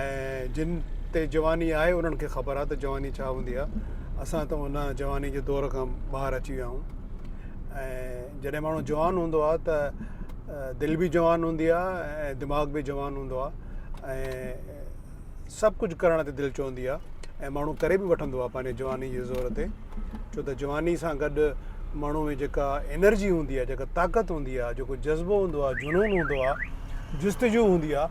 ۽ جن تي جواني آهي انهن کي خبر آهي ته جواني ڇا هوندي آهي اسان ته ان جواني جي دور کان ٻاهر اچي ويا آهيون ۽ جڏهن ماڻهو جوان هوندو آهي ته دل بي جوان هوندي آهي ۽ دماغ بي جوان هوندو آهي ۽ سڀ ڪجهه ڪرڻ تي دل چوندي آهي ۽ ماڻهو ڪري بي وٺندو آهي پنهنجي جواني جي زور تي ڇو ته جواني سان گڏ ماڻهو ۾ جيڪا انرجي هوندي آهي جيڪا طاقت هوندي آهي جيڪو جذبو هوندو آهي جنون هوندو آهي جستجو هوندي آهي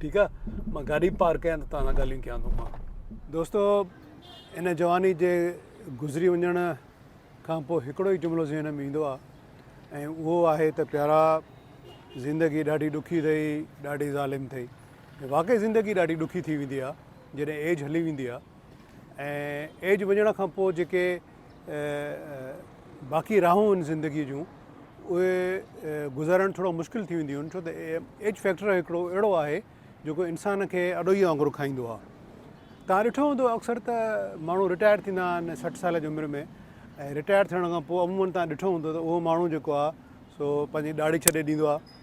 ٺيڪ آ مان گاڏي پارڪ ڪيان ته توهان سان ڳالهيون ڪيان ٿو مان. دوستو ان جواني جي گذري وڃڻ کان پوء هڪڙو ئي جملو ذهن ۾ ايندو آ ۽ اهو آهي ته پيارا زندگي ڏاڍي ڏکي اٿئي ڏاڍي ظالم اٿئي ۽ واقعي زندگي ڏاڍي ڏکي ٿي ويندي آ جڏهن ايج هلي ويندي آ ۽ ايج وڃڻ کان پوء جيڪي باقي راهون آهن زندگيء جون اهي گذارڻ ٿورو مشڪل ٿي وينديون آهن ڇو ته ايج فيڪٽر هڪڙو اهڙو آهي جيڪو انسان کي اڏوهيء وانگر کائيندو آهي تان ڏٺو هوندو اڪثر ته ماڻهو رٽائر ٿيندا آهن سٺ سال جي عمر ۾ ۽ رٽائر ٿيڻ کان پوء عموماً تان ڏٺو هوندو ته اهو ماڻهو جيڪو آهي سو پنهنجي ڏاڙهي ڇڏي ڏيندو آهي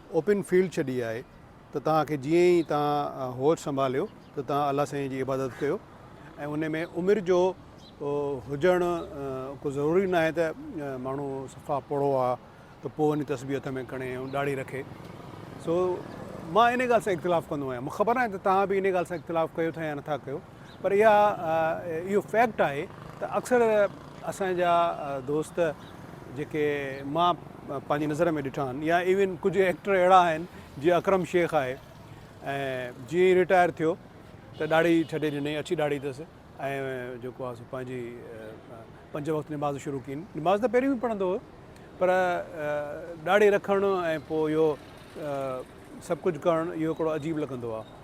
اوپن فيلڊ ڇڏي آهي ته توهان کي جيئن ئي توهان هوش سنڀاليو ته توهان الله سائين جي عبادت ڪيو ۽ ان ۾ عمر جو هجڻ ڪو ضروري ناهي ته ماڻهو صفا پوڙهو آ ته پوء وڃي تسبيح هٿ ۾ کڻي ۽ ڏاڙهي رکي سو مان ان ڳالهه سان اختلاف ڪندو آهيان مون کي خبر ناهي ته توهان به ان ڳالهه سان اختلاف ڪيو ٿا يا نٿا ڪيو پر اها اهو فيڪٽ آهي ته اڪثر اسان جا دوست جيڪي مان پنهنجي نظر ۾ ڏٺا آهن يا ايون ڪجهه ايڪٽر اهڙا آهن جيئن اڪرم شيخ آهي ۽ جيئن ئي رٽائر ٿيو ته ڏاڙهي ڇڏي ڏني اڇي ڏاڙهي اٿس ۽ جيڪو آهي سو پنهنجي پنج وقت نماز شروع ڪئي نماز ته پهريون به پڙهندو هو پر ڏاڙهي رکڻ ۽ پوء اهو سڀ ڪجهه ڪرڻ اهو هڪڙو عجيب لڳندو آهي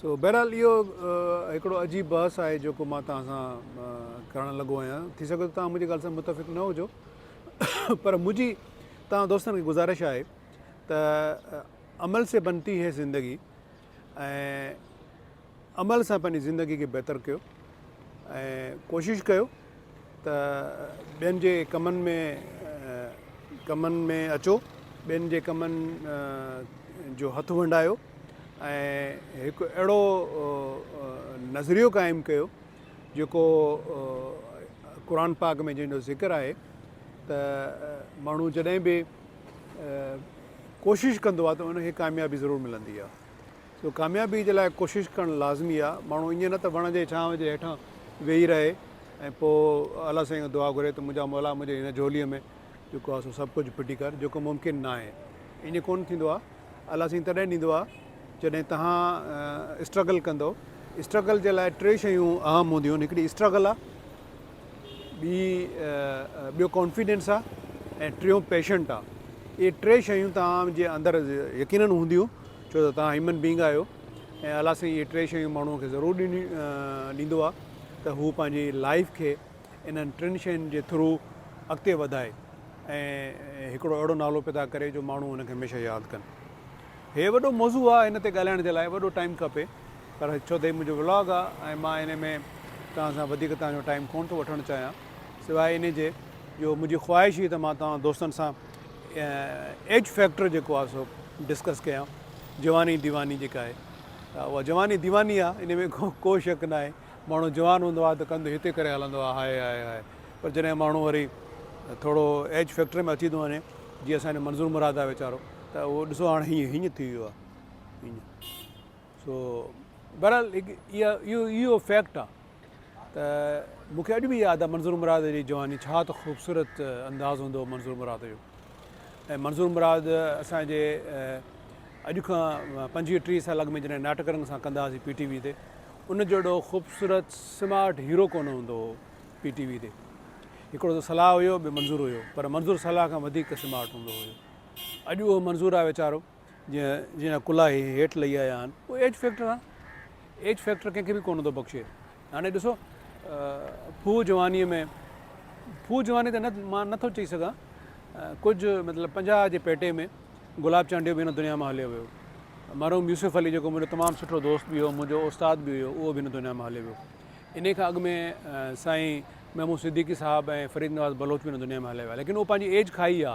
سو بهرحال اهو هڪڙو عجيب بحث آهي جيڪو مان توهان سان ڪرڻ لڳو آهيان ٿي سگهي ٿو توهان منهنجي ڳالهه سان متفق نه هجو پر منهنجي توهان دوستن کي گذارش آهي ته عمل سي بنتي هي زندگي ۽ عمل سان پنهنجي زندگي کي بهتر ڪيو ۽ ڪوشش ڪيو ته ٻين جي ڪمن ۾ ڪمن ۾ اچو، ٻين جي ڪمن جو هٿ ونڊايو ۽ هڪ اهڙو نظريو قائم ڪيو جيڪو قرآن پاڪ ۾ جنهن جو ذڪر آهي ته ماڻهو جڏهن به ڪوشش ڪندو آهي ته ان کي ڪاميابي ضرور ملندي آهي. سو ڪاميابي جي لاء ڪوشش ڪرڻ لازمي آ. ماڻهو ائين نه ته وڻ جي ڇانو جي هيٺان ويهي رهي ۽ پوء الله سائين کان دعا گهري ته منهنجا مولا منهنجي هن جهولي ۾ جيڪو آ سو سڀ ڪجهه ڦٽي ڪر جيڪو ممڪن نه آهي. ائين ڪونه ٿيندو آ. الله سائين تڏهن ڏيندو آ جڏهن توهان اسٽرگل ڪندؤ. اسٽرگل جي لاء ٽي شيون اهم هونديون آهن هڪڙي اسٽرگل آ، ٻي ٻيو ڪانفيڊنس آ ۽ ٽيون پيشنٽ آ. اهي ٽي شيون توهان جي اندر يقينن هونديون ڇو ته توهان هيومن بينگ آهيو ۽ الله سائين اهي ٽي شيون ماڻهوء کي ضرور ڏيندو آهي ته هو پنهنجي لائيف کي انهن ٽن شين جي ٿرو اڳتي وڌائي ۽ هڪڙو اهڙو نالو پيدا ڪري جو ماڻهو هن کي هميشه ياد ڪن. هي وڏو موضوع آهي هن تي ڳالهائڻ جي لاء وڏو ٽائيم کپي پر ڇو ته هي منهنجو ولاگ آهي ۽ مان انهي ۾ توهان سان وڌيڪ توهان جو ٽائيم ڪونه ٿو وٺڻ چاهيان سواء انهي جي جو منهنجي خواهش هئي ته مان توهان دوستن سان ايج فيڪٽر جيڪو آهي سو ڊسڪس ڪيان جواني ديواني جيڪا آهي اها جواني ديواني آهي ان ۾ ڪو شڪ ناهي ماڻهو جوان هوندو آهي ته ڪنڌ هتي ڪري هلندو آهي هاء هاء هاء پر جڏهن ماڻهو وري ٿورو ايج فيڪٽر ۾ اچي ٿو وڃي جيئن اسان جو منظور مراد آهي ويچارو ته اهو ڏسو هاڻي هيئن هيئن ٿي ويو آهي هيئن سو بهرحال هڪ اها اهو اهو فيڪٽ آ ته مون کي اڄ به ياد آ منظور مراد جي جواني ڇا ته خوبصورت انداز هوندو هو منظور مراد جو ۽ منظور مراد اسان جي اڄ کان پنجويهه ٽيهه سال اڳ ۾ جڏهن ناٽڪ رنگ سان ڪندا هئاسين پي ٽي وي تي ان جهڙو خوبصورت سمارٽ هيرو ڪونه هوندو هو پي ٽي وي تي هڪڙو ته صلاح هيو ٻيو منظور هيو پر منظور صلاح کان وڌيڪ سمارٽ هوندو هيو اڄ اهو منظور آ ويچارو جنهن جا ڪلها هي هيٺ لهي آيا آهن اهو ايج فيڪٽر آهي ايج فيڪٽر ڪنهن کي به ڪونه ٿو بخشي هاڻي ڏسو ڦوهه جوانيء ۾ ڦوهه جواني ته نه مان نٿو چئي سگهان ڪجهه مطلب پنجاهه جي پيٽي ۾ گلاب چانڊيو به هن دنيا مان هليو ويو مرحوم يوسف علي جيڪو منهنجو تمام سٺو دوست به هو منهنجو استاد به هيو اهو به هن دنيا مان هليو ويو ان کان اڳ ۾ سائين محمود صديقي صاحب ۽ فريد نواز بلوچ به هن دنيا ۾ هليا ويا ليڪن اهو پنهنجي ايج کائي ويا